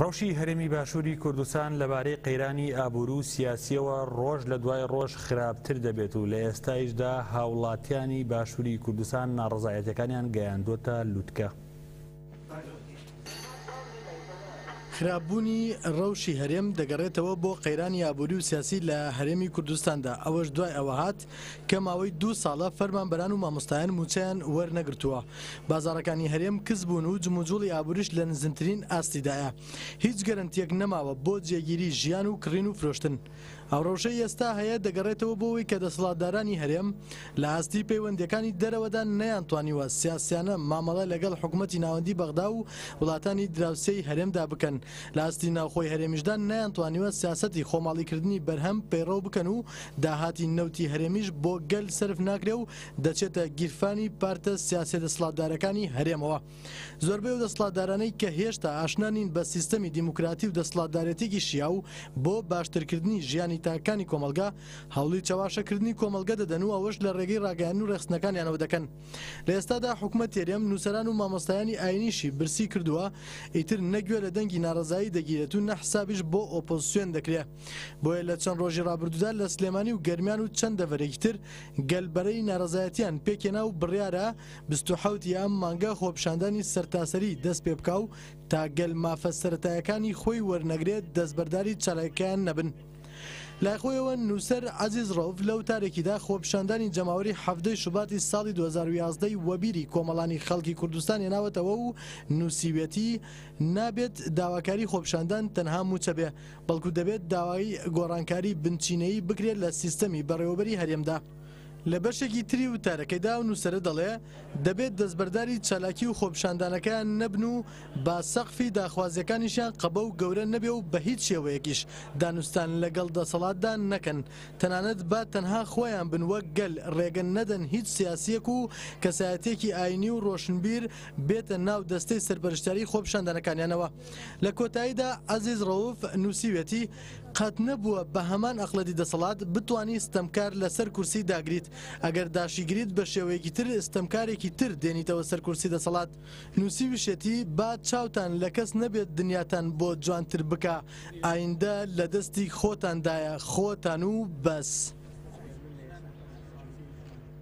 رەوشی هەرێمی باشوری کوردستان لەبارەی قەیرانی ئابورو و سیاسیەوە رۆژ لە دوای رۆژ خراپتر دەبێت و لە ئێستایشدا هاوڵاتیانی باشوری کوردستان ناڕەزایەتیەکانیان گەیاندوەتە لوتکە. خراپ بوونی رەوشی هەرێم دەگەڕێتەوە بۆ قەیرانی ئابوری و سیاسی لە هەرێمی کوردستاندا ئەوەش دوای ئەوە هات کە ماوەی دوو ساڵە فەرمانبەران و مامۆستایان مووچەیان وەرنەگرتووە، بازاڕەکانی هەرێم کز بوون و جموجوڵی ئابووریش لە نزمترین ئاستیدایە، هیچ گەرەنتییەک نەماوە بۆ جێگیری ژیان و کڕین و فرۆشتن. ئەو ڕەوشەی ئێستا هەیە دەگەڕێتەوە بۆوەی کە دەسەڵاتدارانی هەرێم لە ئاستی پەیوەندییەکانی دەرەوەدا نەیانتوانیوە سیاسیانە مامەڵە لەگەڵ حکومەتی ناوەندی بەغدا و وڵاتانی دراوسێی هەرێمدا بکەن، لە ئاستی ناوخۆی هەرێمیشدا نەیانتوانیوە سیاسەتی خۆماڵیکردنی بەرهەم پەیڕەو بکەن و داهاتی نەوتی هەرێمیش بۆ گەل سەرف ناکرێ و دەچێتە گیرفانی پارتە سیاسیە دەسڵاتدارەکانی هەرێمەوە. زۆربەی ئەو دەسڵاتدارانەی کە هێشتا ئاشنا نین بە سیستەمی دیموکراتی و دەسڵاتدارێتیەکی شیاو بۆ باشترکردنی ژیانی تاکەکانی کۆمەڵگە هەوڵی چەواشەکردنی کۆمەڵگە دەدەن و ئەوەش لە رێگەی راگەیاندن و رێخستنەکانیانەوە دەکەن. لە ئێستادا حکومەت تێرێم نوسەران و مامۆستایانی ئاینیشی برسی کردوە ئیتر نە گوێ لە دەنگی نارەزایی دەگیرێت و نە حسابیش بۆ ئۆپۆزسیۆن دەکرێ. بۆیە لە چەند ڕۆژی ڕابردوودا لە سلێمانی و گەرمیان و چەند دەڤەرێکی تر گەل بەرەی نارەزایەتیان پێکێنا و بڕیارە 28 ی ئەم مانگە خۆپشاندانی سەرتاسەری دەست پێ بکا و تا گەل مافە سەرەتایەکانی خۆی وەرنەگرێت دەستبەرداری چالاکەکەیان نەبن. لای خۆیەوە نووسەر عەزیز ڕەوف لە وتارێکیدا خۆپشاندانی جەماوەری حەڤدەی شوباتی ساڵی 2011 ی وەبیری کۆمەڵانی خەڵکی کوردستان هێناوەتەوە و نووسیویەتی نابێت داواکاری خۆپشاندان تەنها مووچە بێ بەڵکو دەبێت داوای گۆڕانکاری بنچینەیی بکرێت لە سیستەمی بەڕێوەبەری هەرێمدا. لە بەشێکی تری وتارەکەیدا ئەو نووسەرە دەڵێ، دەبێت دەستبەرداری چالاکی و خۆپیشاندانەکەیان نەبن و با سەقفی داخوازییەکانیشیان قەبە و گەورە نەبێ و بە هیچ شێوەیەکیش دانوستان لەگەڵ دەسەڵاتدا نەکەن تەنانەت با تەنها خۆیان بن وەک گەل رێگە نەدەن هیچ سیاسییەک و کەسایەتییەکی ئاینی و رۆشنبیر بێتە ناو دەستەی سەرپەرشتیاری خۆپیشاندانەکانیانەوە. لە کۆتاییدا عەزیز ڕەوف نووسیوێتی، قەت نەبووە بە هەمان ئەقڵەتی دەسەڵات بتوانی ستەمکار لە سەر کورسی داگریت، ئەگەر داشیگریت بە شێوەیەکی تر ستەمکارێکی تر دێنیتەوە سەر کورسی دەسەڵات. نووسیویشێتی، با چاوتان لە کەس نەبێت دنیاتان بۆ جوانتر بکا، ئایندە لە دەستی خۆتاندایە، خۆتان و بەس.